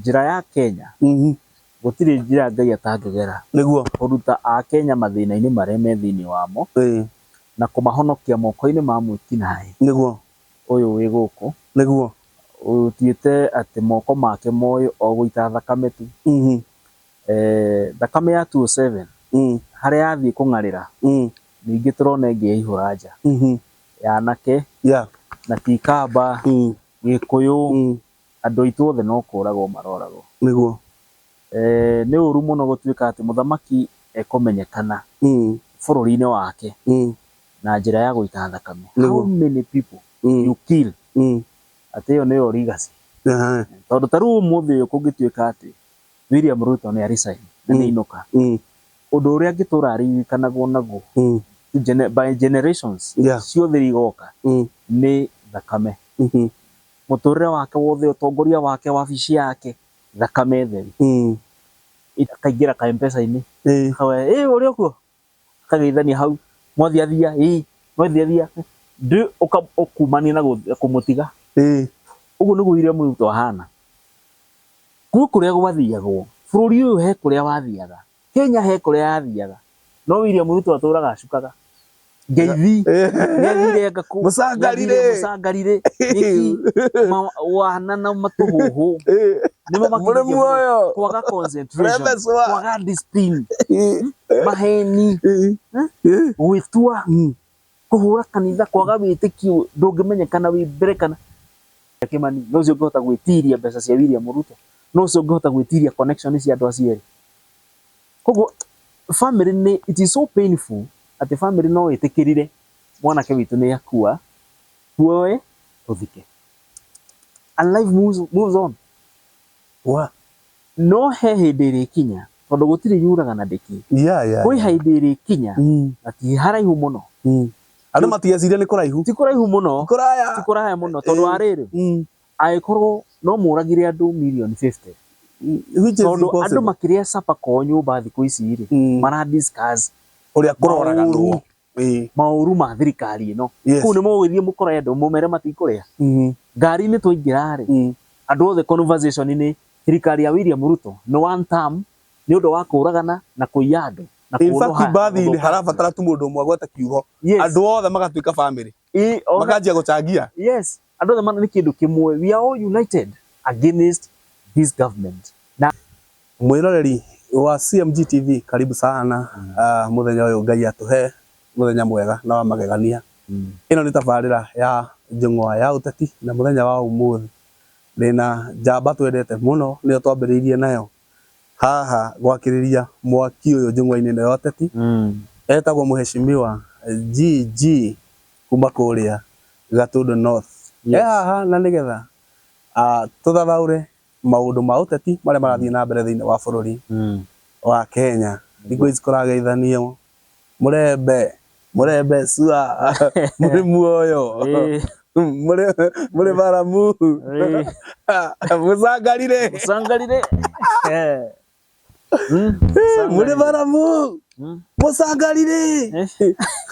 Njĩra ya Kenya, Mhm. Gũtirĩ njĩra Ngai atangĩgera Nĩguo. kũruta Akenya mathĩna-inĩ marĩa me thĩinĩ wamo Ĩĩ. na kũmahonokia moko-inĩ ma mwĩkinaĩ Nĩguo. ũyũ wĩ gũkũ Nĩguo. ũtuĩte atĩ moko make moĩ o gũita thakame tu. Mhm. Eh, Thakame ya 207 Mm. harĩa yathiĩ kũng'arĩra Mm. ningĩ tũrona ĩngĩ yaihũra nja Mhm. ya anake Yeah. na ti ikamba, Mm. gĩkũyũ, Mm. Andũ aitũ othe no kũũragwo marooragwo. Nĩguo. Ee, nĩ ũũru mũno gũtuĩka atĩ mũthamaki ekũmenyekana bũrũri-inĩ wake na njĩra ya gũita thakame. How many people you kill? Atĩ ĩyo nĩyo legacy. Tondũ ta rĩu ũmũthĩ ũyũ kũngĩtuĩka atĩ William Ruto nĩ a resign, na nĩ ainũka, ũndũ ũrĩa angĩtũũra aririkanagwo naguo by generations ciothe iria igooka nĩ thakame. Mũtũrĩre wake wothe, ũtongoria wake, wabici yake, thakame theru. Akaingĩra ka Mpesa-inĩ, akauga, ĩĩ ũrĩ o kuo? Akageithania hau, mwathi athia, ĩĩ, mwathi athia, ndĩ, ũka, ũkumania na kũmũtiga. Ũguo nĩguo William Ruto ahana. Gwĩ kũrĩa gwathiagwo, bũrũri ũyũ he kũrĩa wathiaga, Kenya he kũrĩa yathiaga no William Ruto atũraga acukaga ngeithi nĩathire ngakũ mũcangarire mũcangarire nĩki wana na matũhũhũ nĩmo mũrĩ muoyo kwaga concentration kwaga discipline maheni gwĩtua Kũhũra kanitha kwaga wĩtĩkio ndũngĩmenyekana wĩ mbere kana Kĩmani no ũcio ũngĩhota gwĩtiria mbeca cia William Ruto no ũcio ũngĩhota gwĩtiria connection cia andũ acio erĩ. Koguo family nĩ it is so painful atĩ family no ĩtĩkĩrire mwanake witũ nĩ akua tuoe tũthike and life moves, moves on. Wa No he hĩndĩ ĩrĩkinya, tondũ gũtirĩ yuraga na ndĩkĩ. Yeah, yeah, Kwĩ yeah. hĩndĩ ĩrĩkinya, Mm, na ti haraihu mũno. mm. Andũ matigeciria nĩ kũraihu. Ti kũraihu mũno, Ti kũraya. ti kũraya mũno, tondũ wa rĩrĩ, Mm, angĩkorwo no mũragire andũ mirioni 50, mm, which is tondũ andũ impossible. makĩrĩa capa kwao nyũmba thikũ ici-rĩ, Mm. mara discuss Ũrĩa kũroraga maũru. nũũ. Ĩĩ. maũru ma thirikari ĩno Yes. kũu nĩ mũgũgĩthiĩ mũkore andũ mũmere matikũrĩa Mhm. ngari-inĩ twaingĩra rĩ Mm. andũ othe conversation nĩ thirikari ya William Ruto nĩ one term nĩ ũndũ wa kũragana na kũiya andũ na In kũũrũha fact, mbathi-inĩ gũthũkangia. harabatara tu mũndũ ũmwe agweta kiugo. Yes. Andũ othe magatuĩka family. Ĩ, ona- Makanjia gũcangia. yes Andũ othe mana nĩ kĩndũ kĩmwe. We are all united against this government. Na. Mwĩroreri wa CMG TV karibu sana uh, mũthenya ũyũ Ngai atũhe mũthenya mwega na wa magegania. Ĩno nĩ tabarĩra ya Njũng'wa ya Ũteti na mũthenya wa ũmũthĩ ndĩna njamba twendete mũno nĩyo twambĩrĩirie nayo haha gwakĩrĩria mwaki ũyũ njũng'wa-inĩ ĩno ya ũteti, etagwo Mheshimiwa GG kuma kũrĩa Gatũndũ North. E haha na nĩgetha tũthathaũre maũndũ ma ũteti marĩa marathiĩ na mbere thĩiniĩ wa bũrũri wa Kenya, thikũ ici kũrageithanio Mũrembe, mũrembe sua, mũrĩ muoyo, mũrĩ mũrĩ baramu, mũcangarire, Sangarire. Eh. Mm. mũrĩ baramu, mũcangarire.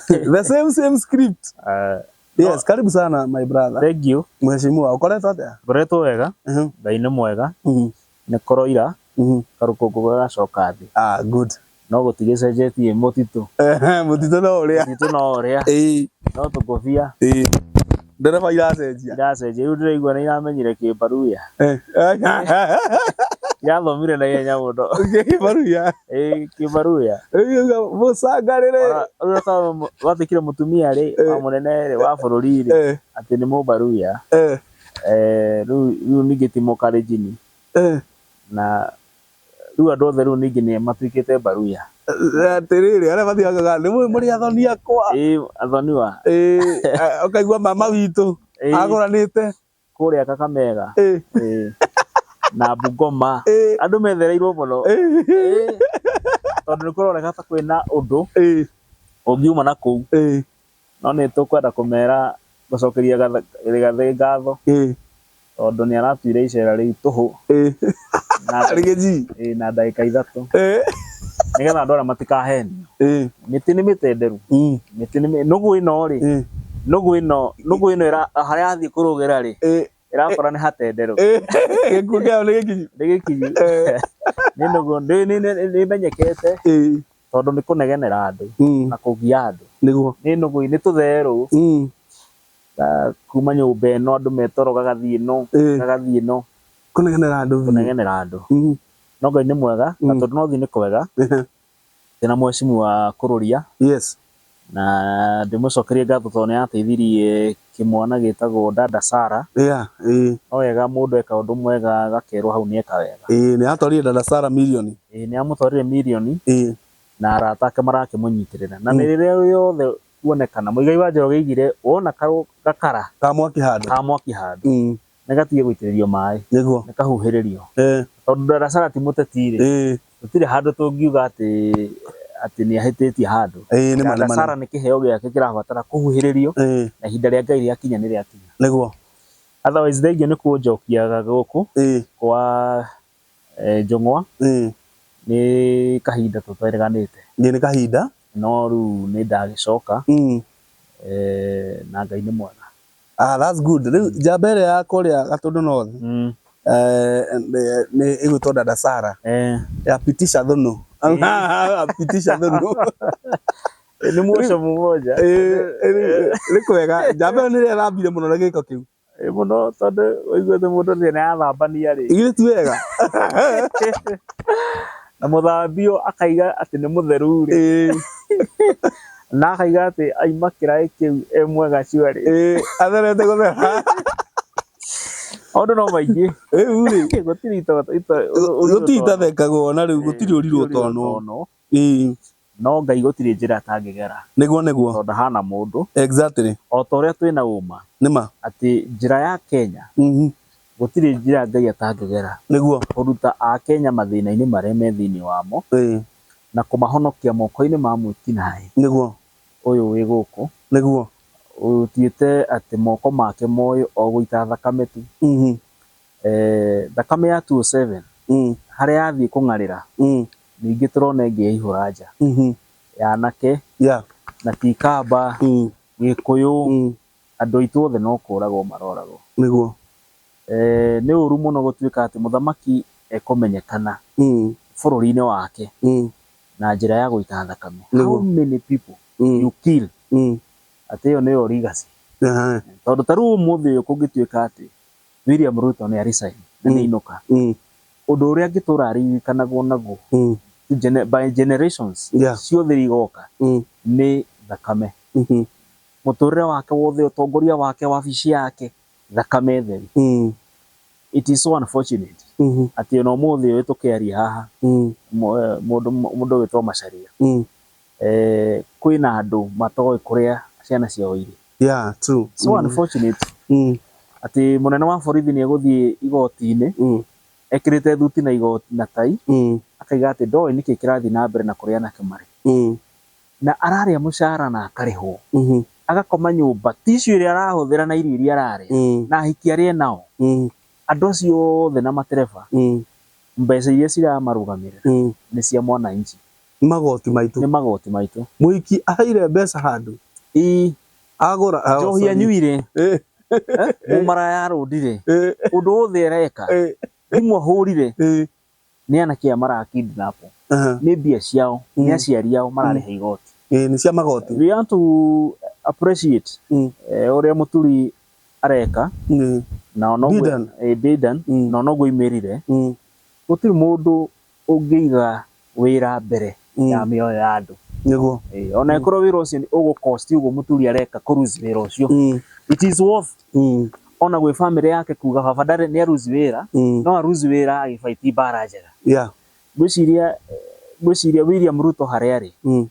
The same same script. Ah, Yes, karibu sana my brother. Thank you. Mheshimiwa, ukoretwo atia? Ngoretwo wega, Mhm, Ngai nĩ mwega. mhm, Nĩkoro ira karũkũngũ gagacoka thĩ. Ah, good. No gũtigĩcenjetie mũtitũ. Ehe, mũtitũ no ũrĩa. Mũtitũ no ũrĩa. Ĩĩ. No tũngũbia. Ĩĩ. Ndereba iracenjia. Iracenjia. Rĩu ndĩraigua nĩ iramenyire kĩmbaruya. Eh. Irathomire na ihenya mũno. Kĩmbaruya. Ĩĩ, kĩmbaruya. Rĩu irauga mũcangarĩre. Rĩu ũrĩa watuĩkire mũtumia-rĩ, wa mũnene-rĩ, wa bũrũri-rĩ, atĩ nĩ mũmbaruya. Eh. Eh, rĩu rĩu ningĩ ti mũkarĩnjini Eh, na rĩu andũ othe rĩu ningĩ nĩ matuĩkĩte mbaruya eh, atĩrĩrĩ arĩa mathiangaga nĩ mũĩ mũrĩ athoni akwa ĩ athoniwa Eh, eh, ũkaigua mama witũ Eh. agũranĩte kũrĩa kakamega Eh, ĩ, na bungoma eh, andũ methereirwo mũno eh, Ĩ, tondũ nĩ kũroneka ta kwĩna ũndũ eh, ũngiuma na kũu eh. No nĩ tũkwenda kũmera, gũcokeria Rigathĩ ngatho tondũ nĩ aratuire icera rĩu tũhũ na ndagĩka ithatũ nĩgetha andũ arĩa matikahenio. Mĩtĩ nĩ mĩtenderu, nũgũ ĩno rĩ, nũgũ ĩno harĩa yathiĩ kũrũgĩra rĩ, ĩrakora nĩ hatenderũ gĩkuũ kĩao nĩ gĩkinyu nĩ gĩkinyu nĩ nũgũ nĩ- nĩ- nĩ- nĩ menyekete Ĩĩ. tondũ nĩ kũnegenera andũ Mm. na kũgia andũ nĩguo nĩ nũgũ nĩ tũtherũ Mm. na kuma nyũmba ĩno andũ metoro gagathiĩ no Ĩĩ. gagathiĩ no kũnegenera andũ biũ. kũnegenera andũ Mm. no ngai nĩ mwega na Mm. tondũ no thiĩ nĩ kwega Ehe. Ndĩna mwecimu wa kũrũria. Yes. Na ndĩmũcokerie ngatho tondũ nĩateithirie kĩmwana gĩtagwo dada Sarah. Yeah, ĩĩ. No wega mũndũ eka ũndũ mwega agakerwo hau nĩeka wega. Ĩĩ, nĩatwarire dada Sarah mirioni. Ĩĩ, nĩamũtwarire mirioni. Ĩĩ. Na arata ake marakĩmũnyitĩrĩra. Na mĩrĩre ĩyo yothe kuonekana, Muigai wa Njoroge augire, wona gakara. Ka mwaki handũ. Ka mwaki handũ. nĩ gatige gũitĩrĩrio maĩ, nĩguo nĩ kahuhĩrĩrio. eh, Tondũ Ndarasara ti mũteti-rĩ, eh, gũtirĩ handũ tũngiuga atĩ atĩ nĩ ahĩtĩtie handũ. eh, nĩ ma, nĩ ma, nĩ Ndarasara nĩ kĩheo gĩake kĩrabatara kũhuhĩrĩrio ma. Eh, na ihinda rĩa Ngai rĩakinya nĩ rĩakinya. nĩguo Otherwise thengia nĩ kũnjokiaga gũkũ eh, kwa eh, Njũng'wa eh, nĩ kahinda tũtereganĩte. nĩ nĩ kahinda No rĩu nĩ ndagĩcoka mm, eh, na Ngai nĩ mwega. Ah, that's good. Rĩu njamba ĩrĩa ya kũrĩa Gatũndũ North Mm. eh, nĩ- nĩ ĩgwĩtwo Dada Sara Eh. ya Pitisha Thũnũ. Pitisha Thũnũ. Ni mwoco mmoja. Eh, eh, Nĩ kwega. Njamba ĩyo nĩ ĩrĩa ĩrambire mũno na gĩko kĩu. Ĩ mũno tondũ ũiguĩte mũndũ nĩ arathambania rĩ. Ithuĩ ti wega. Na mũthambio akaiga atĩ nĩ mũtheru rĩ. Eh, na akaiga atĩ aima kĩraĩ kĩu e mwega shwari Ĩĩ, atherete gũthera maũndũ no maingĩ rĩu rĩ gũtirĩ ito- ito- ũrirũ gũtirĩ tono. itathekagwo na rĩu Ĩĩ, gũtirĩ ũrirwo ũrirũ tonwo tonwo. Ĩĩ, no ngai gũtirĩ njĩra atangĩgera nĩguo nĩguo tondũ ndahana mũndũ exactly o ta ũrĩa twĩna ũma nĩma atĩ njĩra ya kenya Mhm. gũtirĩ njĩra ngai atangĩgera nĩguo kũruta akenya mathĩna-inĩ marĩa me thĩinĩ wamo Ĩĩ, Na kũmahonokia moko-inĩ ma mwĩki-naĩ. Nĩguo. Ũyũ wĩ gũkũ. Nĩguo. Ũtuĩte atĩ moko make moĩ o gũita thakame tu. Thakame ya 207 harĩa yathiĩ kũng'arĩra, ningĩ tũrona ĩngĩyaihũra nja. Ya anake na ti ikamba, Gĩkũyũ. Andũ aitũ othe no kũũragwo marooragwo. Nĩguo. Ee, nĩ ũũru mũno gũtuĩka atĩ mũthamaki ekũmenyekana bũrũri-inĩ wake na njĩra ya gũita thakame. How many people you kill? Atĩ ĩyo nĩyo legacy. Tondũ ta rĩu ũmũthĩ ũyũ kũngĩtuĩka atĩ William Ruto nĩ a resign, na nĩ ainũka, ũndũ ũrĩa angĩtũũra aririkanagwo naguo by generations ciothe iria igooka nĩ thakame. Mũtũrĩre wake wothe, ũtongoria wake, wabici yake, thakame theru. It is so unfortunate atĩ ona ũmũthĩ ũyũ tũkĩaria haha, mũndũ ũgwĩtwo Macharia, kwĩna andũ matoĩ kũrĩa ciana ciao irĩ. So unfortunate atĩ mũnene wa borithi nĩ egũthiĩ igoti-inĩ ekĩrĩte thuti na tai, akauga atĩ ndoĩ nĩkĩ kĩrathiĩ na mbere na kũrĩa anake marĩ. Na ararĩa mũcara na akarĩhwo. Agakoma nyũmba ti icio iria arahũthĩra na irio iria ararĩa na ahiki arĩa enao. Andũ acio othe na matereba mbeca iria ciramarũgamĩrĩra nĩ cia mwananchi. Nĩ magoti maitũ. Nĩ magoti maitũ. Mũhiki aheire mbeca handũ. Ii. Agũra. Njohi anyuire. Mũmaraya arũndire. Ũndũ wothe areka. Thimũ ahũrire. nĩ anake aya mara kidnap Aha. nĩ mbia ciao Mm. nĩ aciari ao mararĩha igoti Ĩĩ, nĩ cia magoti we want to appreciate Mm. eh, ũrĩa mũturi areka Ĩĩ. na ona ũguo- Bidan. eh, Bidan Mm. na ona ũguo imĩrire Mm. gũtirĩ mũndũ ũngĩiga wĩra mbere Mm. ya mĩoyo ya andũ nĩguo Eh, ona ĩkorwo wĩra ũcio nĩ ũgũ cost ũguo mũturi areka kũ lose wĩra ũcio Mm. it is worth Mm. ona gwĩ family yake kuga baba ndarĩ nĩ aruzi wĩra Mm. no aruzi wĩra agĩbaiti mbara njega yeah ngwĩciria eh, ngwĩciria William Ruto harĩa arĩ Mm.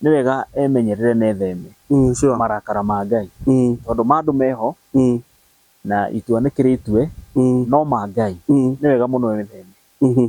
nĩ wega emenyerere na etheme Mm, sure. marakara ma Ngai Mm. tondũ ma andũ meho Mm. na itua nĩ kĩrĩ itue Mm. no ma Ngai Mm. nĩ wega mũno etheme Mhm.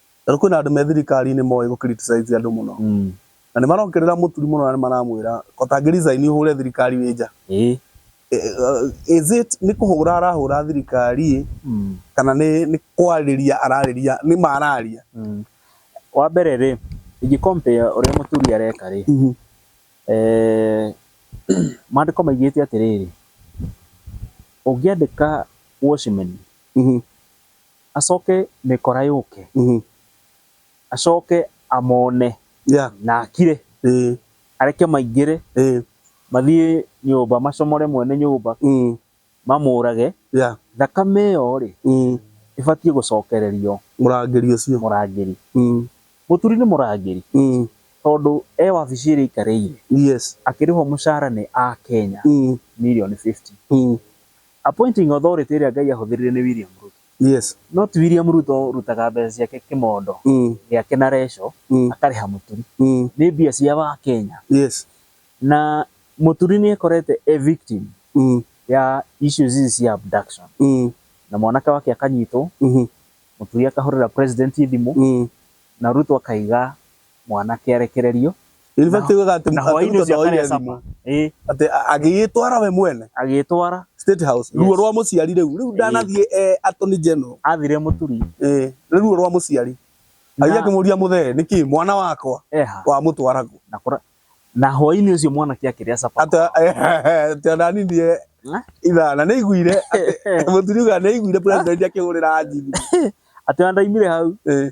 Tondũ kwĩna andũ me thirikari-inĩ moĩ gũ criticize andũ mũno. Mm. Na nĩ marongerera mũturi mũno na nĩ maramwĩra ũtangĩ resign ũhũre thirikari wĩ nja. Ĩĩ. Is it nĩ kũhũra arahũra thirikari Mm. kana nĩ nĩ kwarĩria ararĩria nĩ ma araria? Mm. Wa mbere rĩ, ingĩ compare ũrĩa mũthuri areka rĩ, Mhm. eh, maandĩko maigĩte atĩrĩrĩ, ũngĩandĩka watchman, Mhm. Acoke mĩkora yũke. Mhm. Acoke amone. Yeah. Na akire. Ĩĩ. Areke maingĩre. Ĩĩ. Mathiĩ nyũmba macomore mwene nyũmba. Mhm. Mamũũrage. Yeah. Thakame ĩyo-rĩ. Mhm. Ĩbatiĩ gũcokererio. Mũrangĩri ũcio. Mũrangĩri. Mhm. Mũturi nĩ mũrangĩri. Mhm. Tondũ e wabici ĩrĩa aikarĩire. Yes. Akĩrĩhwo mũcara nĩ Akenya. Mhm. Mirioni fifty. Mhm. Appointing authority ĩrĩa Ngai ahũthĩrire nĩ William Ruto. Yes. No ti William Ruto ũrutaga mbeca ciake kĩmondo gĩake na reco akarĩha mũturi. Nĩ mbia cia Wakenya. Yes. Na mũturi nĩ ekorete e victim ya issues ici cia abduction. Na mwanake wake akanyitwo, mũturi akahũrĩra president thimũ na Ruto akaiga mwanake arekererio In fact, Na- wega atĩ na hwainĩ atĩ ũcio Ruto ndoire akarĩa thimũ. cama Ĩĩ, Atĩ a- agĩĩtwara we mwene agĩtwara State House. Yes. Ruo rwa mũciari rĩu. Rĩu ndanathiĩ eh, Attorney General. athire mũturi Eh, nĩ ruo rwa mũciari. Athiĩ Na- akĩmũria mũthee, nĩkĩ mwana wakwa eha wa mũtwaragwo. na kũra na hwainĩ ũcio mwanake akĩrĩa capa Atĩ atĩ ona niĩ ndiye Na? ithaa na nĩ aiguire atĩ mũturiuga nĩ aiguire president akĩhũrĩra Haji thimũ. atĩ andaimire hau Eh,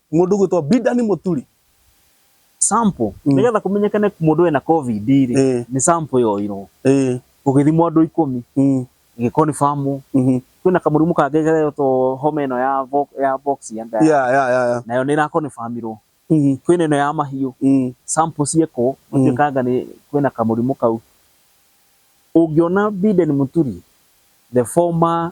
Mũndũ gwĩtwa Bidani Mũturi. Sample, Mm. nĩgetha kũmenyekane mũndũ ena covid rĩ, Eh. nĩ sample yoirwo. Eh. Gũgĩthimwo andũ ikũmi, Mm. ĩgĩconfirmwo. Mhm. Kwĩna kamũrimũ kangĩ geretwo homa ĩno ya vo- ya box ya nda. Yeah, yeah, yeah, yeah. Nayo nĩ ĩraconfirmirwo. Mhm. Kwĩna ĩno ya mahiũ, Mm. sample ciekwo, Mm. gũtuĩkanga nĩ kwĩna kamũrimũ kau. Ũngĩona Biden Mũturi, the former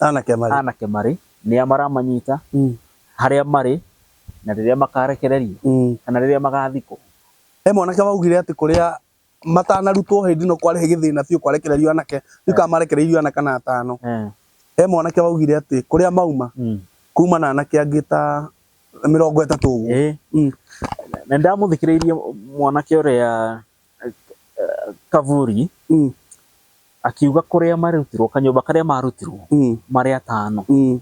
Anake marĩ. anake marĩ, nĩa maramanyita, Mm. harĩa marĩ, na rĩrĩa makarekererio, Mm. kana rĩrĩa magathikwo. He mwanake waugire atĩ kũrĩa matanarutwo hĩndĩ ĩno kwarĩ gĩthĩna biũ kwarekererio anake, rĩu kana marekereirio ana kana atano. Eh, He mwanake waugire atĩ kũrĩa mauma, mm. kuma na anake angĩ ta mĩrongo ĩtatũ ũguo. Ĩĩ, Mm. na nĩndamũthikĩrĩirie mwanake ũrĩa Kavuri Mm. akiuga kũrĩa marutirwo kanyũmba karĩa marutirwo Mm. marĩ atano Mm.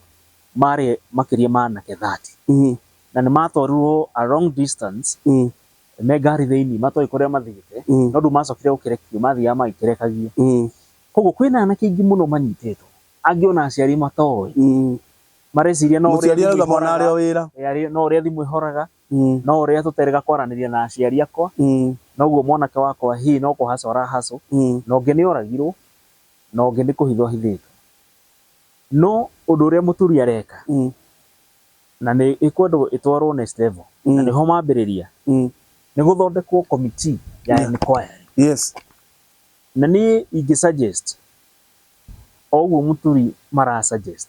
marĩ makĩria ma anake 30 Mm. na nĩ matwarirwo a long distance Mm. me ngari thĩinĩ matoĩ kũrĩa mathiĩte Mm. no ndũ macokire gũkerekio mathiaga magĩkerekagia Mm. koguo kwĩna anake aingĩ mũno manyitĩtwo angĩ ona aciari matoĩ Mm. mareciria no ũrĩa mũciari thimũ arauga mwana arĩ o ĩhoraga wĩra Eh, arĩ- no ũrĩa thimũ ĩhoraga No ũrĩa tũterĩga kwaranĩria na aciari akwa, noguo mwanake wakwa hi no kũhacwo arahacwo, na ũngĩ nĩ oragirũo, na ũngĩ nĩ kũhithwo ahithĩtwo. No ũndũ ũrĩa mũthuri areka, na nĩ ĩkwendwo ĩtwarwo next level, na nĩho mambĩrĩria, nĩ gũthondekwo committee ya enquiry. Na niĩ ingĩ suggest o ũguo mũthuri mara suggest,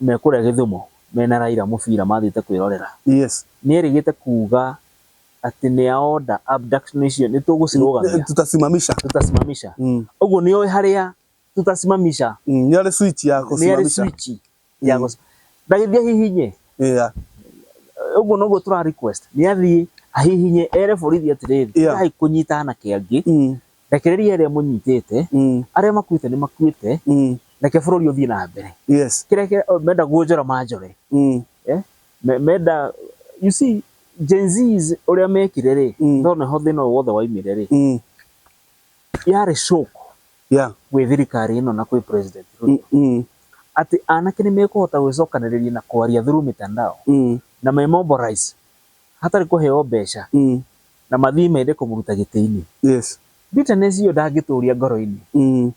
me kũrĩa Gĩthumo mena Raila mũbira mathiĩte kwĩrorera. Yes. Nĩ erĩgĩte kuuga atĩ nĩ a order abduction icio nĩ tũgũcirũgamia. Tutasimamisha. Tutasimamisha. Mm. Ũguo nĩ oĩ harĩa tutasimamisha. Mm. Nĩ arĩ switch ya gũsimamisha. Nĩ arĩ switch ya mm. gũsimamisha. Ndagĩthiĩ hihinye. Yeah. Ũguo noguo tũra request. Nĩ athiĩ ahihinye ere borithi atĩrĩrĩ. Yeah. Ndai kũnyita anake angĩ. Mm. Rekereria arĩa mũnyitĩte, Mm. arĩa makuĩte nĩ makuĩte, Mm. reke bũrũri ũthiĩ na mbere. Yes. Kĩrĩa kĩ- oh, menda kuonjora manjore. Mm. Eh? Me- Menda, you see, Gen Zs ũrĩa mekire rĩ, Mm. ndona ho thĩna ũyũ wothe waimire rĩ, Mm. yarĩ shock Yeah. gwĩ thirikari ĩno na gwĩ president Mm. Ruto. Mm. Atĩ anake nĩ mekũhota gwĩcokanĩrĩria na kwaria through mitandao Mm. na me mobilize hatarĩ kũheo mbeca Mm. na mathiĩ mende kũmũruta gĩtĩ-inĩ. Yes. Bitterness iyo ndangĩtũria ngoro-inĩ. Mm.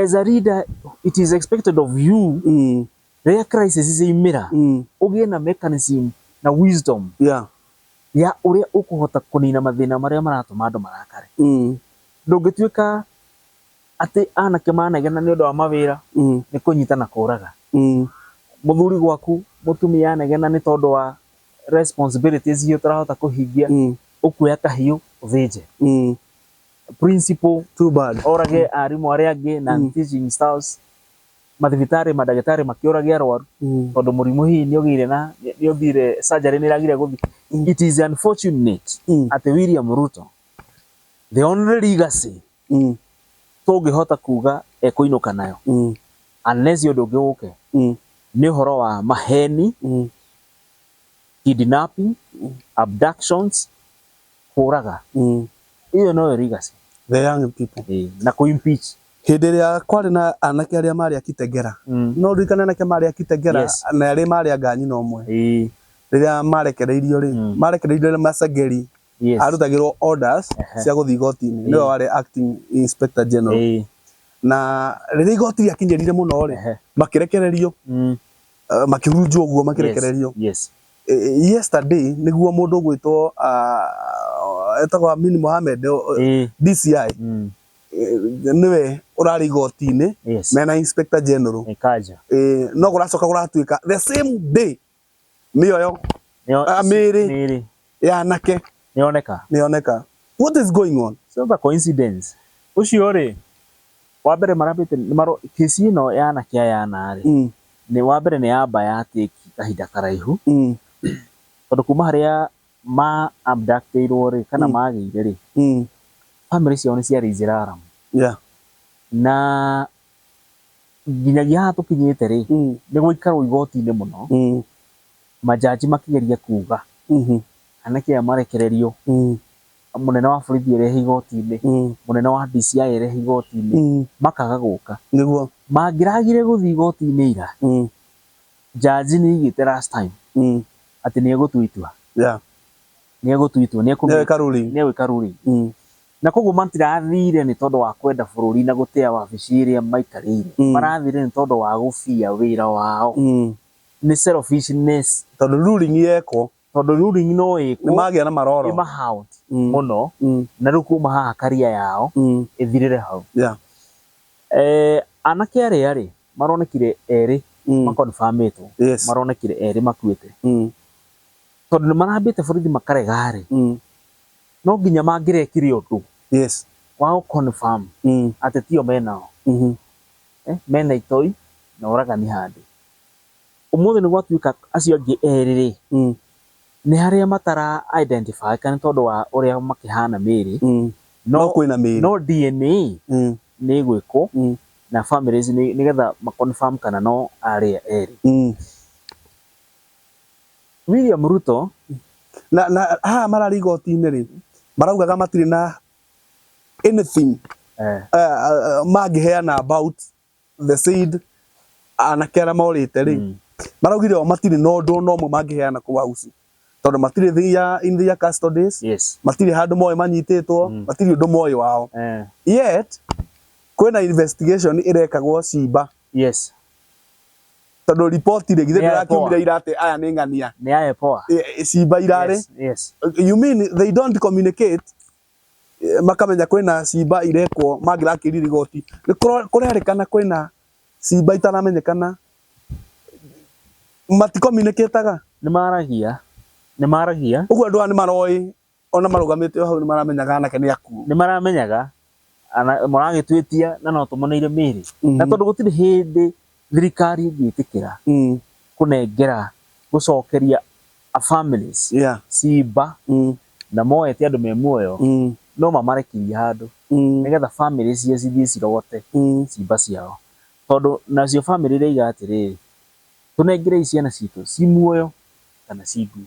As a leader, it is expected of you Mm. rĩrĩa crisis ciaumĩra Mm. ũgĩe na mechanism na wisdom Yeah. ya ũrĩa ũkũhota kũnina mathĩna marĩa maratũma andũ marakare. Mm. Ndũngĩtuĩka atĩ anake manegena nĩ ũndũ wa mawĩra Mm. nĩ kũnyita na kũraga. Mm. Mũthuri gwaku mũtumia anegena nĩ tondũ wa responsibilities iria ũtarahota kũhingia Mm. ũkuoya kahiũ ũthĩnje Mm. principal Too bad. orage arimũ arĩa angĩ na Mm. teaching staffs mathibitarĩ mandagĩtarĩ makĩũrage arwaru Mm. tondũ mũrimũ hihi nĩ ũgĩire na nĩ ũthire surgery nĩ ĩragire gũthiĩ Mm. it is unfortunate Mm. atĩ William Ruto the only legacy mm. tũngĩhota kuga ekũinũka nayo mm. unless ũndũ ũngĩ ũke mm. nĩ ũhoro wa maheni mm. kidnapping mm. abductions kũraga mm. ĩyo noyo legacy the young people e, na ku impeach hĩndĩ ĩrĩa kwarĩ na anake arĩa marĩ akitegera mm. no ririkane anake marĩ akitegera yes. na arĩa marĩ anga nyina ũmwe e. rĩrĩa marekereirio rĩ mm. marekereirio macageri Yes. arutagĩrwo orders Ehe. cia gũthiĩ igoti-inĩ nĩwe Ĩĩ. warĩ acting inspector general Ĩĩ. na rĩrĩa igoti rĩakinyĩrire mũno rĩ Ehe. makĩrekererio Mm. eh, makĩhurunjwo ũguo makĩrekererio Yes. Eh, eh, yesterday nĩguo mũndũ ũgwĩtwo ah, etagwo Amin Mohamed o- o- Ĩĩ. DCI Mm. eh, nĩwe ũrarĩ igoti-inĩ Yes. mena inspector general Ĩkaja. Eh, no gũracoka gũratuĩka the same day mĩoyo Nĩyo- Ah, mĩĩrĩ. mĩĩrĩ ya anake nĩyoneka nĩ yoneka what is going on Sio the coincidence ucio ri wa mbere marambite ni maro kesi ino ya anake aya ana ri mm, ni wa mbere ni yamba ya take kahinda karaihu mm, tondu kuma haria ma abductirwo ri kana Mm. magire ri mm, family ciao ni ciarĩ iziraram yeah na Nginyagia haha tũkinyĩte rĩ, Mm. nĩ gũikarwo igoti-inĩ mũno, Mm. manjanji makĩgeria kuuga Mhm. anake aya marekererio, Mm. mũnene wa borithi erehe igoti-inĩ, Mm. mũnene wa DCI erehe igoti-inĩ, Mm. makaga gũka. Nĩguo. Mangĩragire gũthiĩ igoti-inĩ ira, Mm. njanji nĩ aigĩte last time Mm. atĩ nĩ egũtua itua, Yeah. nĩ egũtua itua, nĩ Nĩ ekũmenya, eka ruling. nĩ egwĩka ruling. Mm. Na kwoguo matirathire nĩ tondũ wa kwenda bũrũri na gũtĩa wabici ĩrĩa maikarĩire. Mm. Marathire nĩ tondũ wa gũbia wĩra wao. Mm. Nĩ selfishness. Tondũ ruling yekwo. Tondũ ruling no ĩkwo. Nĩ magĩa na maroro. Ĩ mahaunt mm. mũno. Mm. Na rĩu kuma haha career yao mm. ĩthirĩre hau. Yeah. Eh, anake arĩa rĩ maronekire erĩ mm. makonfamĩtwo yes. maronekire erĩ makuĩte mm. tondũ nĩ marambĩte borithi makarega rĩ mm. No nginya mangĩrekire ũndũ Yes. wa gũ confirm Mm. atĩ tio menao. Mhm. Eh, mena itoi na ũragani handũ. Ũmũthĩ nĩ gwatuĩka acio angĩ erĩ rĩ, Mm. nĩ harĩa matara identify ĩka nĩ tondũ wa ũrĩa makĩhana mĩĩrĩ, Mm. no, No kwĩna mĩĩrĩ. no DNA Mm. nĩ ĩgwĩkwo Mm. na families nĩ nĩgetha ma confirm kana no arĩa erĩ. Mm. William Ruto na na haha mararĩ igoti-inĩ rĩ maraugaga matirĩ na anything eh. uh, uh, mangĩheana about the said anake arĩa morĩte rĩ mm. maraugire o matirĩ na ũndũ ona ũmwe mangĩheana kũu hausi tondå matirä thä ya in their custodies yes. matirä handå moä manyitä two mm. matirä å ndå moä wao eh. yet kwä na investigation ä rekagwo cimba Yes. Tondũ ripoti rĩ githĩ Nĩ ya ndĩrakiumire Epoa. ira atĩ aya nĩ ng'ania. Nĩ ya Epoa. Ĩ- ĩ- Cimba irarĩ. Yes. Yes. You mean they don't communicate eh, makamenya kwĩna cimba irekwo mangĩrakĩri rigoti. Nĩ kũro- kũrerĩkana kwĩna cimba itaramenyekana. Mati communicate-aga. Nĩ maragia. Nĩ maragia. Ũguo andũ aya nĩ maroĩ Ona marũgamĩte o hau nĩ maramenyaga anake nĩ akuũ. Nĩ maramenyaga maragĩtwĩtia na no tũmoneire mĩĩrĩ. Na tondũ gũtirĩ hĩndĩ thirikari ĩngĩtĩkĩra kũnengera, gũcokeria a families ciimba na moe ti andũ me muoyo, no mamarekirie handũ nĩ getha family cio cithiĩ cirogote ciimba ciao. Tondũ nacio family iria iga atĩrĩrĩ, tũnengerei ciana ciitũ ci muoyo kana ci ngui.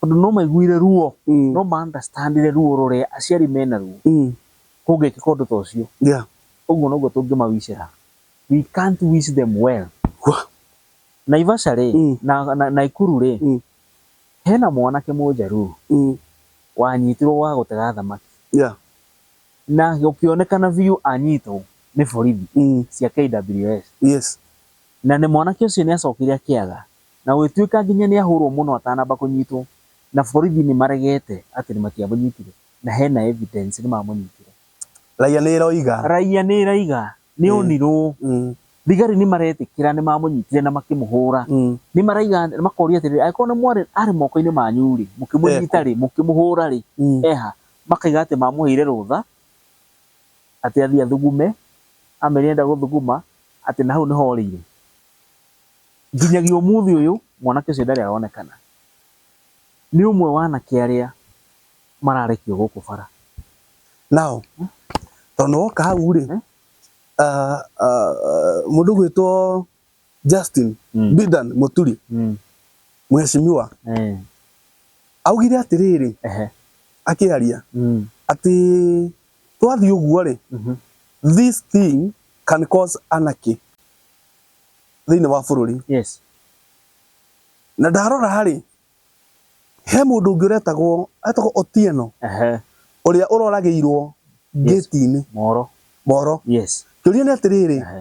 Tondũ no maiguire ruo, Mm. no ma understandire ruo rũrĩa aciari mena ruo Mm. kũngĩkĩka ũndũ ta ũcio. Yeah. Ũguo noguo tũngĩmawicĩra. We can't wish them well. Wah. Naivasha rĩ, Mm. na, na, Naikuru rĩ, Mm. hena mwanake mũnjaruo Mm. wanyitirwo wa gũtega thamaki Yeah. na gũkĩonekana biũ anyitwo nĩ borithi Mm. cia KWS Yes. na nĩ mwanake ũcio nĩ acokire akĩaga Na gũgĩtuĩka nginya nĩahũrwo mũno atanamba kũnyitwo, na borithi nĩmaregete atĩ nĩmatiamũnyitire, na hena evidence nĩmamũnyitire. Raia nĩĩroiga. Raia nĩĩraiga nĩonirwo. Thigari nĩmaretĩkĩra nĩmamũnyitire na makĩmũhũra. Nĩmaraiga, makoria atĩrĩrĩ, angĩkorwo nĩmwarĩ, arĩ moko-inĩ manyu-rĩ, mũkĩmũnyita-rĩ, mũkĩmũhũra-rĩ, eha? Makaiga atĩ mamũheire rũtha, atĩ athiĩ athugume, amerire nĩenda gũthuguma, atĩ na hau nĩho orĩire. Nginyagia ũmũthĩ ũyũ mwanake ũcio ndarĩ aronekana. Nĩ ũmwe wa anake arĩa mararekio gũkũ bara. Now, tondũ nĩwoka hau rĩ, mũndũ ũgwĩtwo Justin Bidan Mũturi, mũhecimiwa, augire atĩrĩrĩ akĩaria atĩ twathiĩ ũguo rĩ, this thing can cause anarchy. thĩinĩ wa bũrũri yes na ndarora rĩ he mũndũ ũngĩ ũretagwo etagwo Otieno ehe ũrĩa ũroragĩirwo Yes. ngĩti-inĩ moro moro yes kĩũria nĩ atĩrĩrĩ ehe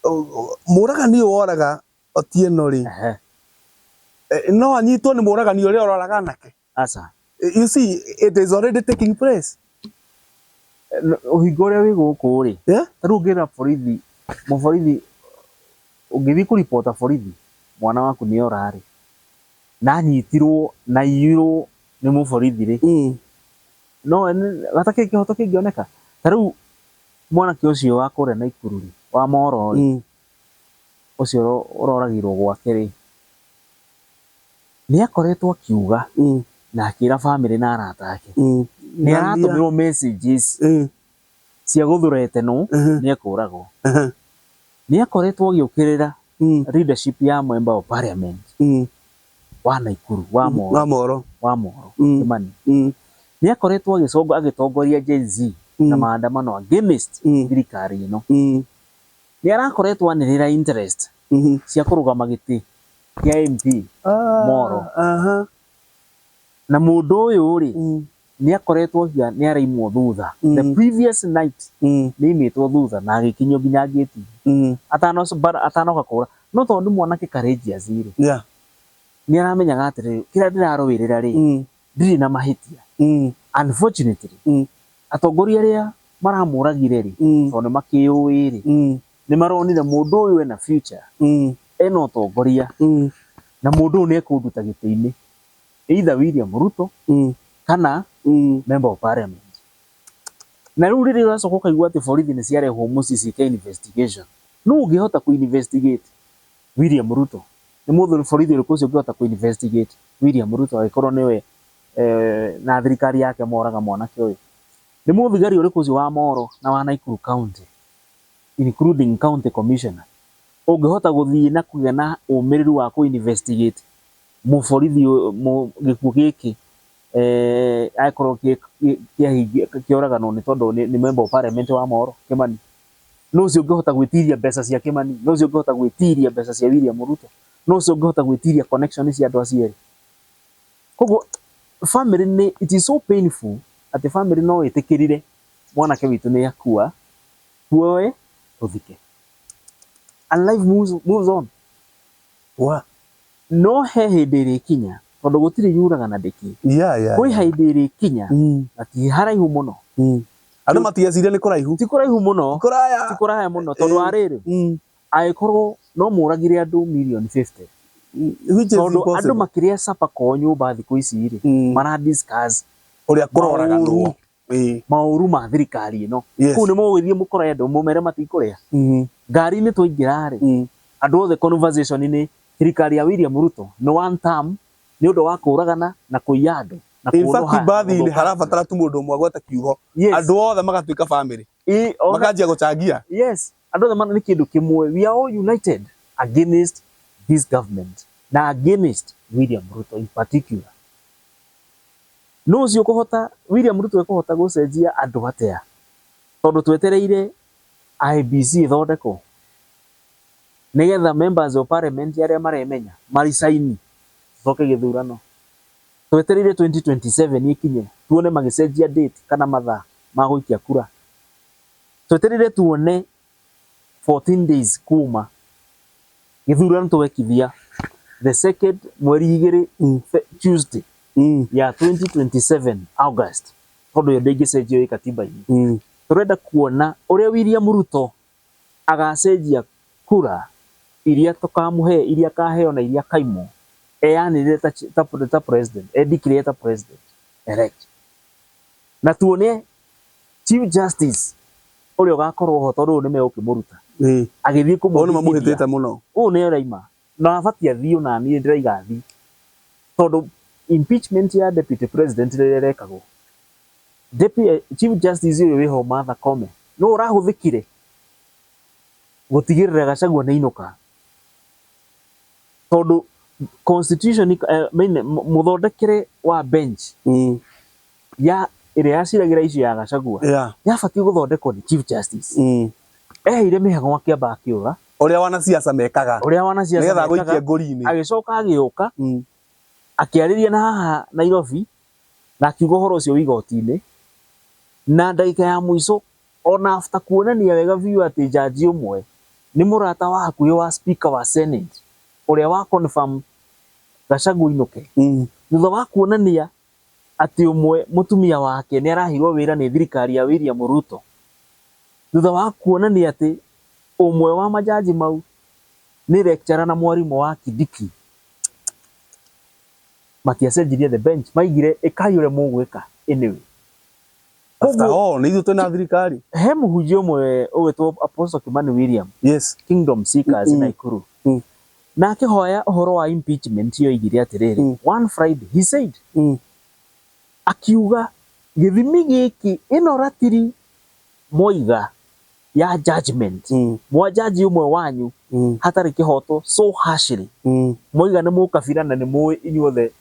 ũ- ũ- mũragani ũyũ woraga Otieno rĩ ehe eh, no anyitwo nĩ mũragani ũrĩa ũroraga anake Aca. You see, it is already taking place. Ũhinga ũrĩa wĩ gũkũ rĩ, Yeah? ta rĩu ũngĩra borithi, mũborithi, ũngĩthiĩ kũripota borithi, mwana waku nĩ ora rĩ, na anyitirwo, na aiyirwo nĩ mũborithi rĩ, Mm. no nĩ- gatakĩ kĩhoto kĩngĩoneka. Ta rĩu mwanake ũcio wa kũrĩa Naikuru rĩ, wa moro rĩ, Mm. ũcio ũro- ũroragirwo gwake rĩ, Nĩ akoretwo akiuga na akĩra famĩlĩ na arata ake. Nĩ aratũmĩrwo messages cia gũthreaten wo nĩ ekũragwo. Nĩ akoretwo agĩũkĩrĩra leadership ya member of parliament wa Naikuru, wa Molo, wa Molo, Kĩmani. Nĩ akoretwo agĩtongoria Gen Z na maandamano against thirikari ĩno. Nĩ arakoretwo anĩrĩra interest cia kũrũgama gĩtĩ kĩa MP Moro. Aha. Na mũndũ ũyũ rĩ, Mm. nĩ akoretwo hia nĩ araimwo thutha. The Mm. previous night Mm. nĩ aimĩtwo thutha na agĩkinyio nginya ngĩti Mm. atanoc- bara- atanoka kũra. No tondũ nĩ mwanake courageous rĩ, Yeah. nĩ aramenyaga atĩrĩrĩ, kĩrĩa ndĩrarũĩrĩra rĩ, Mm. ndirĩ na mahĩtia. Mm. Unfortunately, Mm. atongoria arĩa maramũragire rĩ, Mm. tondũ nĩ makĩũĩ rĩ, Mm. nĩ maronire mũndũ ũyũ ena future, Mm. ena ũtongoria Mm. na mũndũ ũyũ nĩ ekũnduta gĩtĩ-inĩ, either William Ruto Mm. kana Mm. member of parliament. Na rĩu rĩrĩa ũracoka ũkaigua atĩ borithi nĩ ciarehwo mũciĩ ciĩke investigation, nũũ ũngĩhota kũ investigate William Ruto? Nĩ mũndũ borithi ũrĩkũ ũcio ũngĩhota kũ investigate William Ruto angĩkorwo nĩwe eh, na thirikari yake moraga mwanake ũyũ? Nĩ mũthigari ũrĩkũ ũcio wa Moro na wa Naikuru County including county commissioner, ũngĩhota gũthiĩ na kũgĩa na ũmĩrĩru wa kũ investigate mũborithi gĩkuũ gĩkĩ angĩkorwo kĩoraganwo nĩ tondũ nĩ member of parliament wa Moro, Kĩmani? Nũ ũcio ũngĩhota gwĩtiria mbeca cia Kĩmani? Nũ ũcio ũngĩhota gwĩtiria mbeca cia William Ruto? Nũ ũcio ũngĩhota gwĩtiria connection cia andũ acio erĩ? Koguo famĩlĩ nĩ, it is so painful atĩ famĩlĩ no ĩtĩkĩrire mwanake witũ nĩ akua, tuoe tũthike and life moves on. No he hĩndĩ ĩrĩkinya tondũ gũtirĩ yuraga na ndĩkĩ, kwĩ hĩndĩ ĩrĩkinya na ti haraihu mũno andũ matigeciria nĩ kũraihu, ti kũraihu mũno, ti kũraya mũno tondũ wa rĩrĩ, angĩkorwo no mũragire andũ mirioni fifty, tondũ andũ makĩrĩa supper kwao nyũmba thikũ ici rĩ, mara discuss ũrĩa kũroragwo. Ĩĩ. maũru ma thirikari ĩno Yes. kũu nĩ mũgũgĩthiĩ mũkore andũ mũmere matikũrĩa Mhm. ngari-inĩ twaingĩra rĩ Mm. andũ othe conversation nĩ thirikari ya William Ruto nĩ one term nĩ ũndũ wa kũragana na kũiya andũ na In fact, kũũrũha, mbathi-inĩ gũthũkangia. harabatara tu mũndũ ũmwe agweta kiugo Yes. andũ othe magatuĩka bamĩrĩ Ĩ, ona- makanjia gũcangia yes Andũ othe mana nĩ kĩndũ kĩmwe. We are all united against this government na against William Ruto in particular. Nũ ũcio ũkũhota, William Ruto ekũhota gũcenjia andũ atĩa? Tondũ twetereire IBC ĩthondekwo nĩgetha members of parliament arĩa maremenya maricaini tũcoke gĩthurano. Twetereire 2027 ĩkinye tuone magĩcenjia date kana mathaa ma gũikia kura. Tweterire tuone 14 days kuma githurano twekithia the second mweri igiri in fe- Tuesday Mm. ya 2027 August tondu yo ndingicenjio i katiba-ini Mm. turenda kuona uria William Ruto agacenjia kura iria tukamuhe iria akaheo na iria akaimwo eyanirire ta, chi- ta, ta president edeclare ta president elect na tuone Chief Justice ũrĩa ũgakorwo ho tondũ ũyũ nĩ megũkĩmũruta Ĩĩ. agĩthiĩ Ũyũ nĩ mamũhĩtĩte kũmũhĩtithia mũno. ũyũ nĩ ũraima na abatiĩ athiĩ o na niĩ ndĩraiga athiĩ tondũ impeachment ya Deputy President rĩrĩa ĩrekagwo Deputy Chief Justice ũyũ wĩho Martha Koome nĩwe ũrahũthĩkire gũtigĩrĩra Gachagua nĩ ainũka tondũ constitution I mean mũthondekere wa bench Mm. ya ĩrĩa yaciragĩra icio ya Gachagua Yeah. yabatiĩ gũthondekwo nĩ Chief Justice. Mm. Eheire mĩhang'o akĩamba akĩũra Ũrĩa wanasiasa mekaga. ũrĩa wanasiasa Nĩgetha mekaga, agũikie ngũri-inĩ. agĩcoka agĩũka Mm. akĩarĩria na haha Nairobi na akiuga ũhoro ũcio wĩ igoti-inĩ na ndagĩka ya mũico ona after kuonania wega biũ atĩ njanji ũmwe nĩ mũrata wa hakuhĩ wa speaker wa senate ũrĩa wa confirm Gachagua ainũke Mm. thutha wa kuonania atĩ ũmwe mũtumia wake nĩ araheirwo wĩra nĩ thirikari ya William Ruto, thutha wa kuonania atĩ ũmwe wa majaji mau nĩ lecturer na mwarimũ wa Kindiki, matiacenjirie the bench, maigire ĩkai ũrĩa mũgwĩka anyway. After Koguo- all, nĩ ithuĩ twĩna thirikari. he mũhunjia ũmwe ũgwĩtwo Apostle Kimani William Yes. Kingdom Seekers Mm. Naikuru Mm. na akĩhoya ũhoro wa impeachment yoigire atĩrĩrĩ Mm. one Friday he said Mm. akiuga gĩthimi gĩkĩ ĩno ratiri moiga ya judgment Mm. mwajaji ũmwe wanyu Mm. hatarĩ kĩhoto so harshly Mm. moiga nĩ mũkabira na nĩ mũĩ inyuothe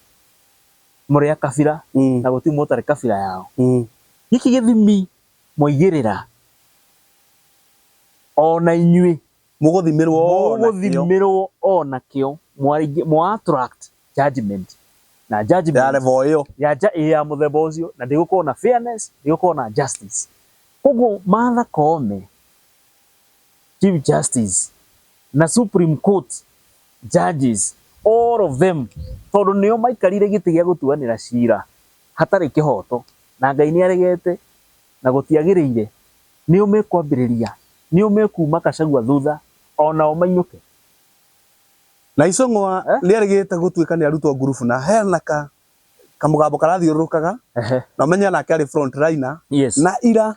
Mũrĩ a kabira, na gũtirĩ mũndũ ũtarĩ kabira yao. Gĩkĩ gĩthimi mwaigĩrĩra, o na inyuĩ. Mũgũthimĩrwo o nakĩo. Mũgũthimĩrwo o nakĩo. Mũatũract judgement, na judgement. Ya level ĩyo. Ĩ ya mũthemba ũcio, na ndĩgũkorwo na fairness, ndĩgũkorwo na justice. Kwoguo Martha Koome, Chief Justice. na Supreme Court judges all of them tondu nio maikarire giti gia gutuanira cira hatari kihoto na Ngai ni aregete na gutiagirire nio mekwambiriria nio mekuma Kacagua thutha onao mainyuke Na Icũng'wa Eh? nĩarĩgĩte gũtuĩka nĩarutwo a ngurubu na hena ka kamũgambo karathiũrũrũkaga ehe na ũmenye nake arĩ front liner yes na ira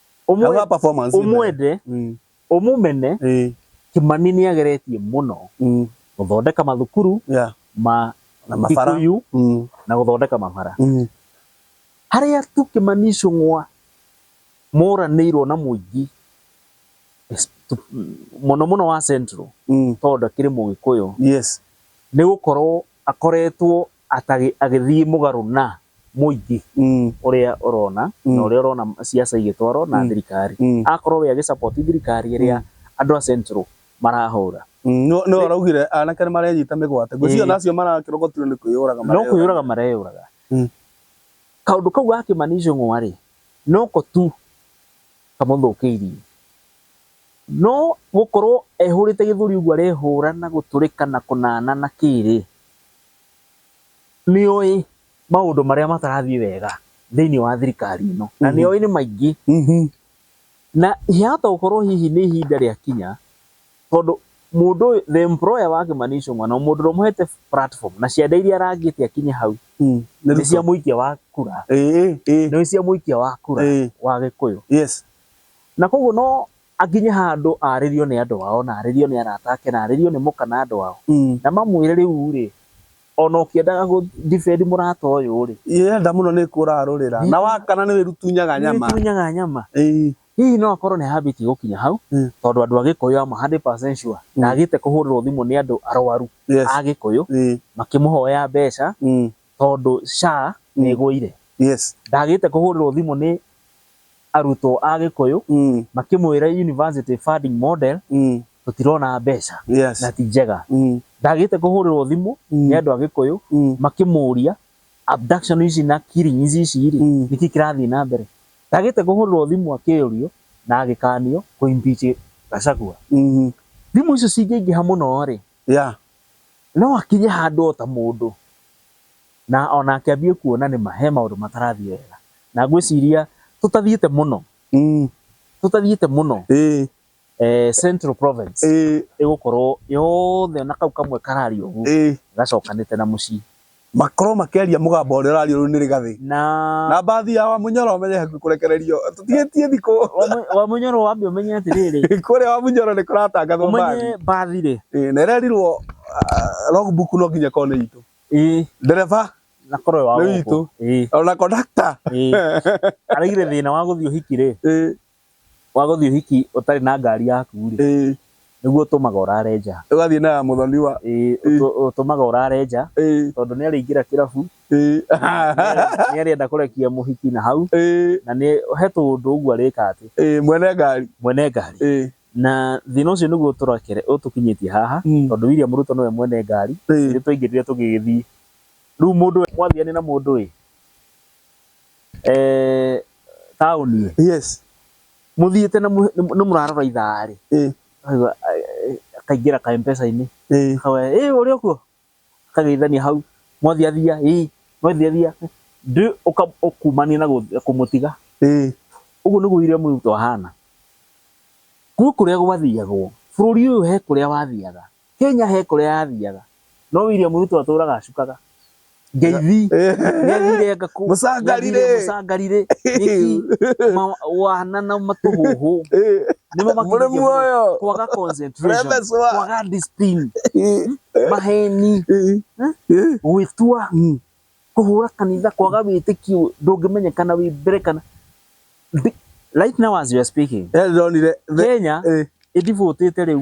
Hau ha performance ĩno. ũmwende Mm, ũmũmene eh, kĩmani nĩ ageretie mũno mm, gũthondeka mathukuru yeah, ma na mabara. Kikuyu Mm, na gũthondeka mabara mm, harĩa tu kĩmani icũng'wa moranĩirwo na mũingĩ es- tu- mũno mũno wa central mm, tondũ akĩrĩ mũgĩkũyũ yes. nĩ gũkorwo akoretwo Atagi agĩthiĩ mũgarũ na mũingĩ ũrĩa ũrona na ũrĩa ũrona ciaca igĩtwarwo na thirikari. Akorwo we agĩ support thirikari ĩrĩa andũ a Central marahũra. Nĩwe ũraugire anake nĩ marenyita mĩgwate. Ngwĩciria ona acio marakĩrogotirwo nĩ kwĩyũraga mareyũraga. No kwĩyũraga mareyũraga. Kaũndũ kau ga Kĩmani Ichung'wa rĩ, noko tu kamũthũkĩirie. No gũkorwo ehũrĩte gĩthũri ũguo arehũra na gũtũrĩka na kũnana na kĩĩ rĩ, nĩ oĩ maũndũ marĩa matarathiĩ wega thĩinĩ wa thirikari ĩno na nĩ oĩ nĩ maingĩ Mhm. na ihata gũkorwo hihi nĩ ihinda rĩa kinya tondũ mũndũ ũyũ the employer wa Kimani Ichung'wa na mũndũ ũrĩa ũmũhete platform na ciande iria arangĩte akinye hau Mm. Nĩ nĩ cia Ruto. mũikia wa kura Ĩĩ, ĩĩ, nĩ cia mũikia wa kura Ĩĩ. wa Gĩkũyũ yes. na koguo no Akinye handũ aarĩrio nĩ andũ ao, na aarĩrio nĩ arata ake, na aarĩrio nĩ mũka na andũ ao, na mamwĩre, Rĩu-rĩ, o na ũkĩendaga gũ defend mũrata ũyũ-rĩ, Ĩ enda mũno nĩ kũũraga rũrĩra, na wakana nĩ wĩrutunyaga nyama. Nĩ wĩtunyaga nyama. Ĩĩ. Hihi no akorwo nĩ hambĩtie gũkinya hau, tondũ andũ a Gĩkũyũ ama hundred percent sure ndaagĩte kũhũrĩrwo thimũ nĩ andũ arwaru a Gĩkũyũ makĩmũhoya mbeca tondũ SHA nĩ Mm. ĩgũire. Yes. Ndagĩte kũhũrĩrwo thimũ nĩ arutwo a Gĩkũyũ Mm. makĩmwĩra university funding model Mm. tũtirona mbeca Yes. na ti njega. Mm. Ndagĩte kũhũrĩrwo thimũ Mm. nĩ andũ a Gĩkũyũ Mm. makĩmũria abduction ici na killing ici ici rĩ Mm. nĩkĩ kĩrathiĩ na mbere. Ndagĩte kũhũrĩrwo thimũ akĩũrio na agĩkanio kũ impeach Gachagua. Mm. Thimũ icio cingĩingĩha mũno rĩ Yeah. No akinye handũ o ta mũndũ na ona akĩambie kuona nĩ ma he maũndũ matarathiĩ wega. Na ngwĩciria tũtathiĩte mũno, Mm. tũtathiĩte mũno Ĩĩ. eh, Central Province Ĩĩ. ĩgũkorwo yothe na kau kamwe karari ũguo Ĩĩ. gacokanĩte na mũciĩ. makorwo makeria mugambo uria ũrariũrũ nĩ rigathi na na mbathi ya wamunyoro menye hakuhĩ kũrekererio tũtigĩtie thikũ wa munyoro wambe umenye atiriri kũrĩa wamunyoro nĩ kũratangathwo mbathi umenye mbathi rĩ Ĩĩ, na ĩrerirwo ah, logbook no nginya korwo nĩ itũ ĩ ndereba na korwe wa Nĩ witũ. ĩ ona kondakta ĩ araigire thina wa guthii uhiki rĩ Ĩĩ, wa gũthiĩ ũhiki ũtarĩ na ngari yaku rĩ, ĩĩ nĩguo ũtũmaga ũrare nja. ũgathiĩ na ya mũthoni wa Ĩĩ, Ĩĩ. ũtũ- ũtũmaga ũrare nja ĩĩ tondũ nĩ arĩingĩra kĩrabu, ĩĩ nĩ arĩenda kũrekia mũhiki na hau, ĩĩ na nĩ he tũũndũ ũguo arĩka atĩ ĩĩ mwene ngari mwene ngari. ĩĩ Na thĩna ũcio nĩguo ũtũrekere ũtũkinyĩtie haha Mm. tondũ William Ruto nĩwe mwene ngari, ĩĩ ithuĩ twaingĩrire tũgĩgĩthiĩ. Rĩu mũndũ mwathiania na mũndũ ĩ, eh taũni yes mũthiĩte na mũ- nĩ nĩ mũrarora ithaa rĩ eh akaigua, eh, eh, akaingĩra ka mpesa-inĩ eh akawa ĩ ũrĩ okuo akageithania hau mwathiathia ĩ mwathiathia ndĩ ũka- ũkumania na gũ- kũmũtiga eh ũguo nĩguo William Ruto ahana gwĩ kũrĩa gwathiagwo bũrũri ũyũ he kũrĩa wathiaga Kenya he kũrĩa yathiaga no William Ruto atũraga acukaga ngeithi nĩathire ngakũ mũcangarire mũcangarire nĩki wana na matũhũhũ nĩmo mũrĩ muoyo kwaga concentration kwaga discipline maheni gwĩtua kũhũra kanitha kwaga wĩtĩkio ndũngĩmenyekana wĩ mbere kana right now as you are speaking Kenya ĩdivotĩte rĩu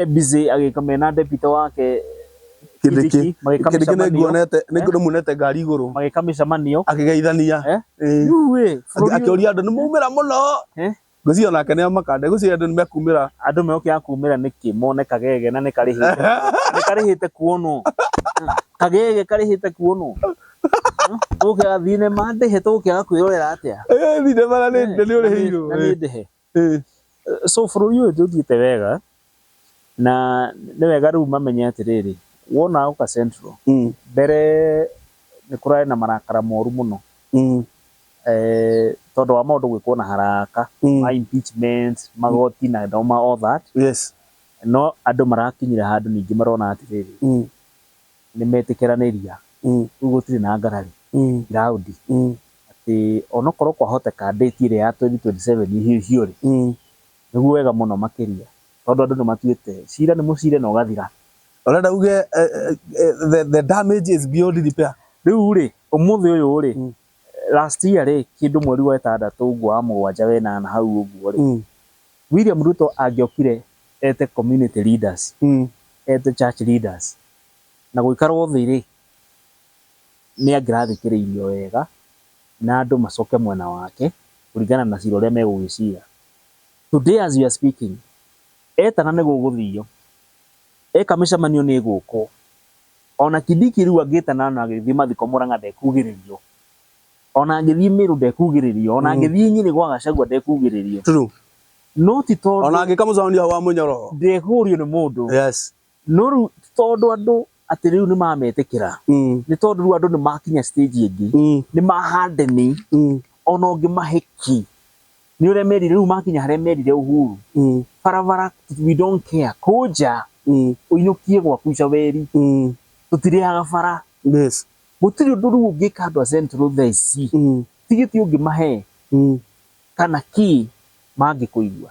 e busy agĩka mena debito wake kindiki Kindiki. magĩka kindiki mĩcemanio nĩnguonete nĩmuonete ngari igũrũ magĩka mĩcemanio akĩgeithania Eh? Ĩĩ. rĩu ĩ Akĩ- bũrũri ũyũ- akĩũria andũ nĩmaumĩra mũno Eh? ngwĩciria nake nĩamakande ngwĩciria andũ nĩmekumĩra andũ megũkĩra kumĩra nĩkĩ mone kagege na nĩkarĩhĩte nĩ karĩhĩte kuonwo kagege karĩhĩte kuonwo tũgũkĩra thinema ndĩhe tũgũkĩra kwĩrorera atĩa Ĩĩ, thinema na nĩ- na nĩũrĩhĩirwo Na nĩ ndĩhe Ĩĩ. So bũrũri ũyũ ndũthiĩte wega, na nĩ wega rĩu mamenye atĩrĩrĩ, wona oka Central, mbere nĩ kũrarĩ na marakara moru mũno, tondũ wa maũndũ gwĩkwo na haraka, ma impeachment, magoti na all that, no andũ marakinyire handũ ningĩ marona atĩrĩrĩ, nĩmetĩkĩranĩria, rĩu gũtirĩ na ngarari ground atĩ onokorwo kwahoteka date ĩrĩa ya twenty twenty seven ĩhĩhio rĩ, nĩguo wega mũno makĩria tondũ andũ nĩmatuĩte cira nĩ mũcire na ũgathira. Ũrenda uge the damage is beyond repair? Rĩu rĩ, ũmũthĩ ũyũ rĩ, last year rĩ, kĩndũ mweri wa ĩtandatũ ũguo wa mũgwanja wa ĩnana hau ũguo rĩ, Mm. William Ruto angĩokire ete community leaders, Mm. ete church leaders, na gũikarwo thĩ rĩ, nĩ angĩrathikĩrĩirio wega, na andũ macoke mwena wake, kũringana na cira ũrĩa megũgĩcira. Today as we are speaking, etana nĩ gũgũthio, eka mĩcemanio nĩ ĩgũkwo. Ona Kidiki rĩu angĩta Nana agĩthiĩ mathiko Mũrang'a ndekugĩrĩrio. Ona angĩthiĩ Mĩrũ ndekugĩrĩrio. Ona angĩthiĩ Nyĩrĩ gwa Gachagua ndekugĩrĩrio. True. No ti tondũ. Ona angĩka mũcamanio hau wa mũnyoro. Ndekũrio nĩ mũndũ. Yes. No rĩu ti tondũ andũ atĩ rĩu nĩ mametĩkĩra. Nĩ tondũ rĩu andũ nĩ makinya stage ĩngĩ. Nĩ ma harden. Ona ũngĩmahe kĩ Nĩ ũremerire rĩu makinya harĩa merire Uhuru mm. barabara we don't care kũnja mm. ũinũkie gwaku Icaweri mm. tũtirĩaga bara yes. gũtirĩ ũndũ rĩu ũngĩka andũ a Central thaa ici mm. tigiti ũngĩmahe mm. kana kĩ mangĩkũigua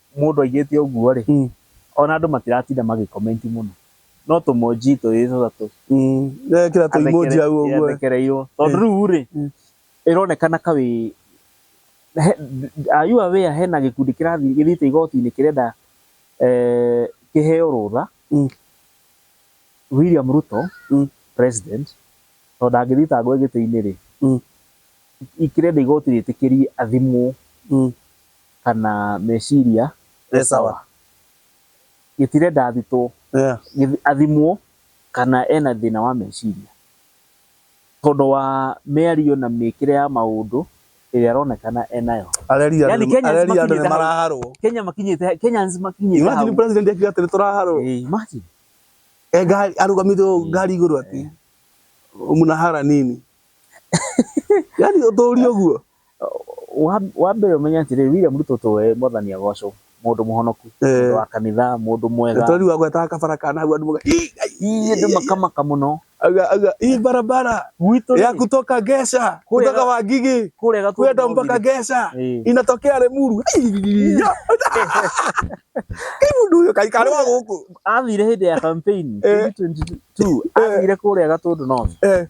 Mũndũ aigĩte ũguo rĩ, ona andũ matiratinda magĩ comment mũno. No tũ emoji twĩrĩ tũtatũ. Ekĩra tũ emoji hau ũguo. Athekereirwo. Tondũ rĩu rĩ, ĩronekana ka wĩ, are you aware hena gĩkundi kĩrathiĩ gĩthiĩte igoti-inĩ kĩrenda kĩheo rũtha, William Ruto president, tondũ ndangĩthitangwo e gĩtĩ-inĩ rĩ, kĩrenda igoti rĩtĩkĩrie athimwo. kana meciria e sawa. Gĩtirenda athitwo, athimwo kana ena thĩna wa meciria. Tondũ wa mĩario na mĩkĩre ya maũndũ ĩrĩa aronekana e nayo. Yaani Kenya makinyĩte hau, Kenyans makinyĩte hau. Imagine president akiuga atĩ nĩ tũraharwo. Imagine. E ngari, arũgamĩte ũũ ngari igũrũ atĩ, mna hara nini. Yaani ũtũũri ũguo. Wa- wa mbere ũmenye atĩrĩrĩ William Ruto to we mwathani agocwo mũndũ mũhonoku Eh. mũndũ wa kanitha mũndũ mwega Tondũ rĩu agwetaga kabara kana hau andũ moga. "Ii, ai, iye andũ makamaka mũno Aga aga hii barabara gwitũ ya rĩ, kutoka Gesha, Kule- kutoka Wangigi kũrĩa Gatũndũ kwenda no mpaka nginya- Gesha Eh. inatokea Lemuru. Ai, ya. Kai mundu uyo kai kale wa guku. athire hĩndĩ ya campaign Eh. 2022 athire kũrĩa gatũndũ north Eh,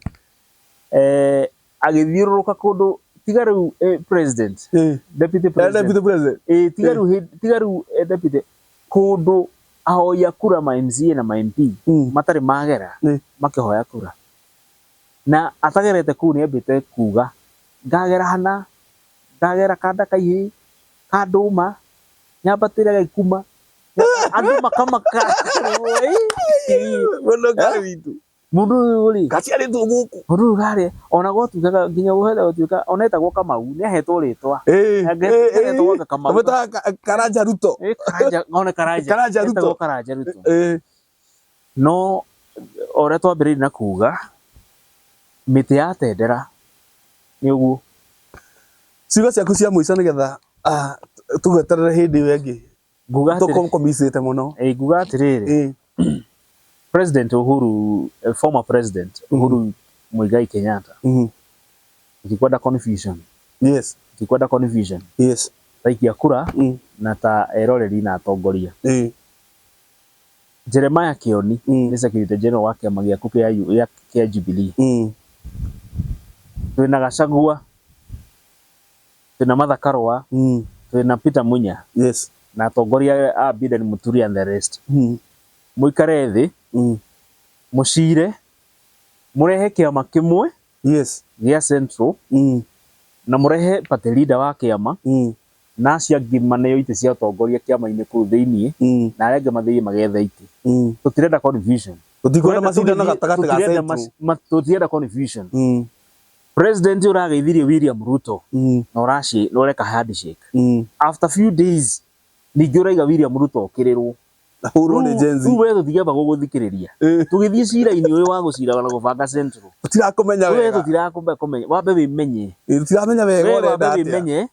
eh, agĩthiũrũrũka kũndũ tiga rĩu eh, president Eh, deputy eh, president deputy president eh, tiga rĩu hĩ- tiga rĩu eh, deputy kũndũ ahoya kura ma MCA na ma MP Mm. matarĩ magera Eh, makĩhoya kura na atagerete kuu nĩ ambĩte kuga ngagera hana ngagera kanda kaihĩ kandũma nyambatĩre gaikuma andũ makamaka mũndũ ũkarĩ witũ Mũndũ ũyũ rĩ. Gaciarĩtwo gũkũ. Mũndũ ũyũ karĩ ona gotuĩkaga nginya gũhera gũtuĩka ona etagwo Kamau nĩ ahetwo rĩtwa. Agetwo anga Kamau. Kamwĩta Karanja Ruto. Ona Karanja. Karanja Ruto. Etagwo Karanja Ruto. No ũrĩa twambĩrĩirie na kuga mĩtĩ ya tendera nĩ ũguo. Ciugo ciaku cia mũico nĩgetha tũgweterere hĩndĩ ĩyo ĩngĩ. Nguga atĩrĩ- Tũkũ- kũmicĩte mũno Ĩĩ, nguga atĩrĩrĩ Ĩĩ. president uhuru eh, former president uhuru muigai kenyatta Mhm. ndikwenda confusion yes ndikwenda confusion yes taikia kura Mm. na ta eroreri na atongoria Ĩĩ. jeremiah kioni Mm. nĩ secretary general wa kĩama gĩaku kĩa U- gĩa- kĩa jubilee Mm. twĩna gacagua twĩna Martha Karũa, Mm. twĩna Peter Munya Yes. na atongoria a Biden Mũturi and the rest. Mm. Mũikare thĩ, Mm. mũcire, mũrehe kĩama kĩmwe Yes. gĩa Central Mm. na mũrehe party leader wa kĩama Mm. na acio angĩ maneo itĩ cia ũtongoria kĩama-inĩ kũu thĩinĩ Mm. na arĩa angĩ mathiĩ magetha itĩ. Mm. Tũtirenda confusion. Tũtikwenda macindano gatagatĩ ga Tũtirenda Central. mac- ma- Tũtirenda confusion. Mm. President ũrageithirie William Ruto mm. na ũraci na ũreka handshake mm. after few days ningĩ ũraiga William Ruto okĩrĩrwo hurwo nĩ Gen Z wewe tũtigamba gũgũthikĩrĩria tũgĩthiĩ cira-inĩ ũyũ wa gũcira na gũbanga central tũtirakũmenya wega wewe tũtirakũmenya wambe wĩmenye tũtiramenya wega ũrenda atĩa wĩmenye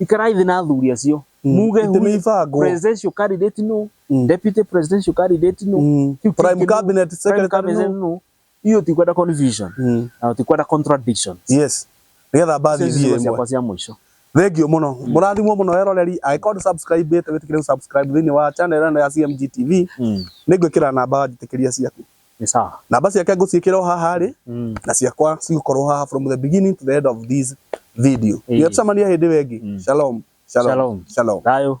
Ikarai thĩ na athuri acio mm. muge presidential candidate no mm. deputy presidential candidate no mm. prime cabinet secretary no hiyo tikwenda confusion mm. na tikwenda contradiction yes nigetha mbathi thiĩ ĩmwe cia mũico thengio muno mm. murathimwo muno eroreri angĩkorwo subscribe ĩte wĩtĩkĩre subscribe thĩinĩ wa channel ĩno ya CMG TV mm. nĩ ngwĩkĩra namba njĩtĩkĩria ciaku Ni sawa. Namba ciake ngũciĩkĩra o haha rĩ Mm. na ciakwa cigũkorwo haha from the beginning to the end of this video. Ĩĩ. Nginya tũcemania hĩndĩ ĩyo ĩngĩ. Mm. Shalom. Shalom. Shalom. Shalom. Thayo.